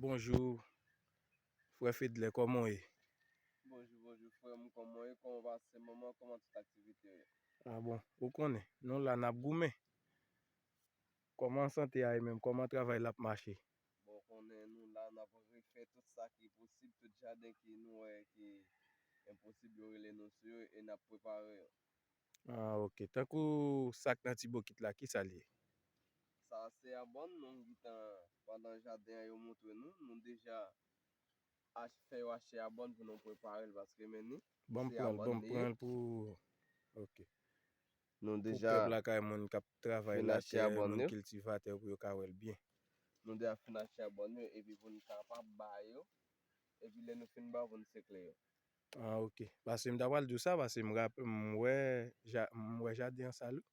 Bonjou frè Fedlè kòman w ye? Bonjou bonjou frè m kòman w ye kòman pase moman kòman tout aktivite yo? A bon ou konnen nou la nap goumen kòman sante a ye menm kòman travay la ap mache? Bon ou konnen nou la nap refè tout sa ki posib tout jaden ki nou wè ki enposib yo rele nou sou yo e nap prepare yo. Ah ok tankou sak nan ti bokit la kisa liye. Sa se abon nou gntan pandan jaden an yo moutre nou nou deja ach fè yo achte abon pou nou preparel paske men ni Banm se pranl abon banm li ye. pranl pou ok Nou pou deja pèp lakay moun kap travay fin achte latè abon moun yo. kiltivatè pou yo ka wèl byen. Nou deja fin achte abon yo epi poun kapab ba yo epi lè nou fin ba yo poun sekle yo. Ah ok paske m ta pral di w sa paske m rap m wè m wè jaden an sal wi.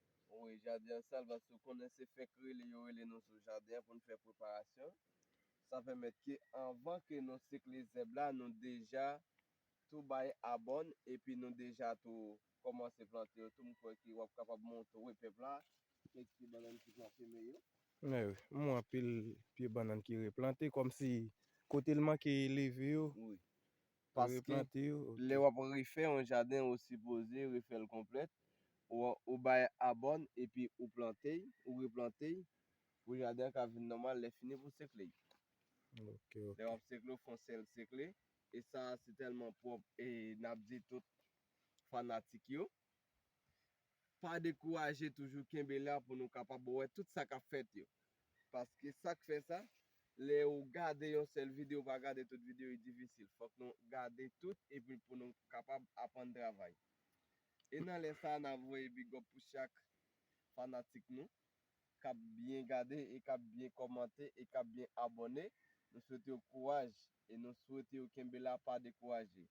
Wi jaden an sal paske w konnen se fenk rele yo rele nou sou jaden an pou n fè preparasyon sa pèmèt ke anvan ke nou sekle zèb la nou deja tou bay abòn epi nou deja tou kòmanse plante yo tou m kwè ke w ap kapab montre we pèp la kèk pye bannann ki pran seme yo. Mwen wi m wè anpil pye bannann ki replante kòmsi kote l manke leve yo Paske, lè wap refè yon jaden ou sipoze refèl konplèt, ou bay abòn epi ou plante, ou replante pou jaden an ka vin nòmal lè fini pou sekle. Lè wap sekle ou fon sèl sekle e sa se tèlman pwòp e nap di tout fanatik yo. pa dekouraje toujou kenbe la pou nou kapab wè tout sa kap fèt yo paske sak fè sa lè ou gade yon sèl video ou pa gade tout video li difisil fòk nou gade tout epi pou nou kapab aprann travay e nan lè sa nap voye bigòp pou chak fanatik nou kap byen gade e kap byen kòmante e kap byen abòne nou swete yo kouraj e nou swete yo kenbe la pa dekouraje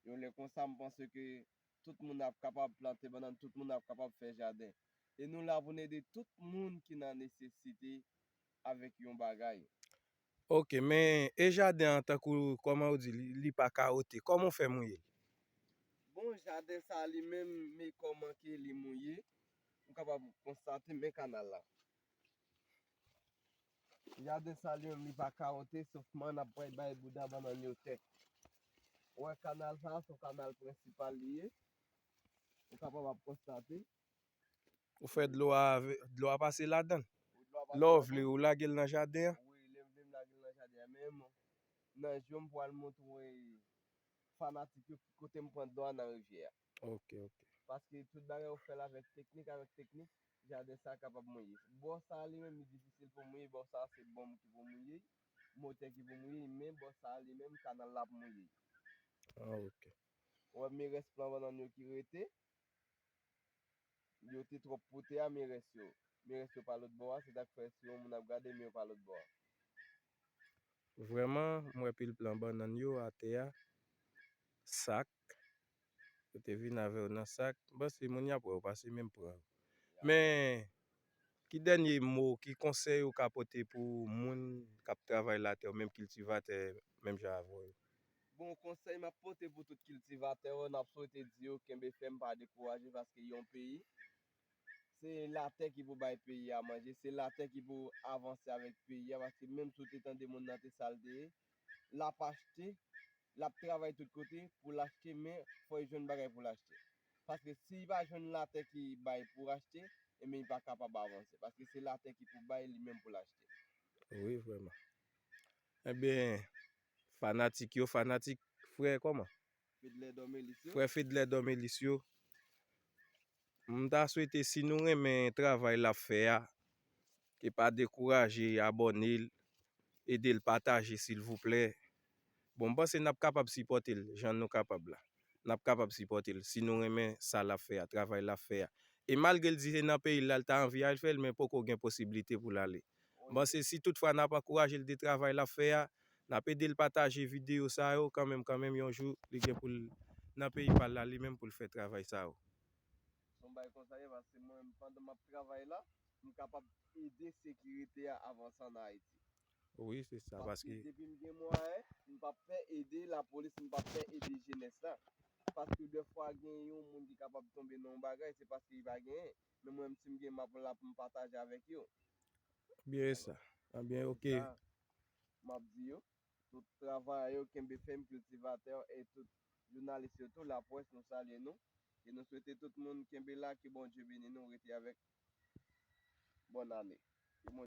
yon lè konsa mpanse ke tout moun ap kapab plante bannann, tout moun ap kapab fè jaden. E nou la pou n ede tout moun ki nan nesesite avèk yon bagay. Ok, men e jaden an tankou kòman ou di li pa kawote, kòman ou fè mouye l? Bon, jaden sa li menm, men kòman ke li mouye, ou kapab konstate men kanal la. Jaden sa li menm li pa kawote sof man ap bay bay bouda bannann yo tè. Ou wè kanal sa a se yon kanal prensipal li ye. Ou kapab ap konstate. Ou fè dlo a dlo a pase ladan. Lè w vle ou lage l nan jaden an. Wi lè m vle m lage l nan jaden an men nan jou m pral montre fanatik yo ki kote m pran dlo a nan rivyè a. Ok ok. Paske tout bagay ou fèl avèk teknik avèk teknik jaden sa kapab mouye. Bò sa li menm li difisil pou mouye bò sa se bonm ki pou mouye y, motè ki pou mouye y men bò sa li menm kanal la ap mouye y. Ah ok. Ou wè men rès plan bannann yo ki rete, yo te twòp pou tè a men rès yo, men rès yo pa lòt bò a se sak fè si yon moun ap gade men yo pa lòt bò a. Vrèman m wè pil plan bannann yo atè a sak. Yo te vin avè yo nan sak. M panse moun y ap wè yo pase menm pran yo. Men, ki dènye mo, ki konsèy ou ka pote pou moun k ap travay latè yo, menm kiltivatè menm jan avè w yo? Bon, konsèy m ap pote pou tout kiltivatè yo, n ap swete di yo kenbe fèm, pa dekouraje paske yon peyi, se latè ki pou bay peyi a manje, se latè ki pou avanse avèk peyi a paske menm si w te tande moun nan te sa l te ye, lap achte lap travay tout kote poul achte men fò li jwenn bagay poul achte paske si li pa jwenn latè ki bay pou achte enben li pa kapab avanse paske se latè ki pou bay li menm poul achte. Wi vrèman enben fanatik yo fanatik frè kòman? Fedlè Dòmelis yo. Frè Fedlè Dòmelis yo. M ta swete si nou renmen travay lap fè a e pa dekouraje abòne l ede l pataje silvouplè bon m panse nap kapab sipòte l jan nou kapab la nap kapab sipòte l si nou renmen sa lap fè a travay lap fè a e malgre l di se nan peyi l lal ta anvi al fè l men poko gen posiblite pou l ale. M panse si tout fwa nap ankouraje l de travay lap fè a, nap ede l pataje videyo sa yo kanmenm kanmenm yon jou li gen pou l nan peyi pal la li menm pou l fè travay sa yo. Son bay konsaye paske mwen menm pandan map travay la m kapab ede sekirite a avanse an Ayiti. Wi se sa paske. Paske depi m gen mwayen m pap pè ede lapolis m pap pè ede jenès la paske dè fwa gen yon moun ki kapab tonbe nan yon bagay se paske li pa genyen Men mwen msim gen map la poum pataje avek yo. Byen esa byen ok. Esa map di yo. Tout travayè yo kenbe fèm kiltivatè e tout jounalis yo tou lapwès nou salye nou e nou swete tout moun kenbe la ke Bondye beni nou rete avèk bòn ane.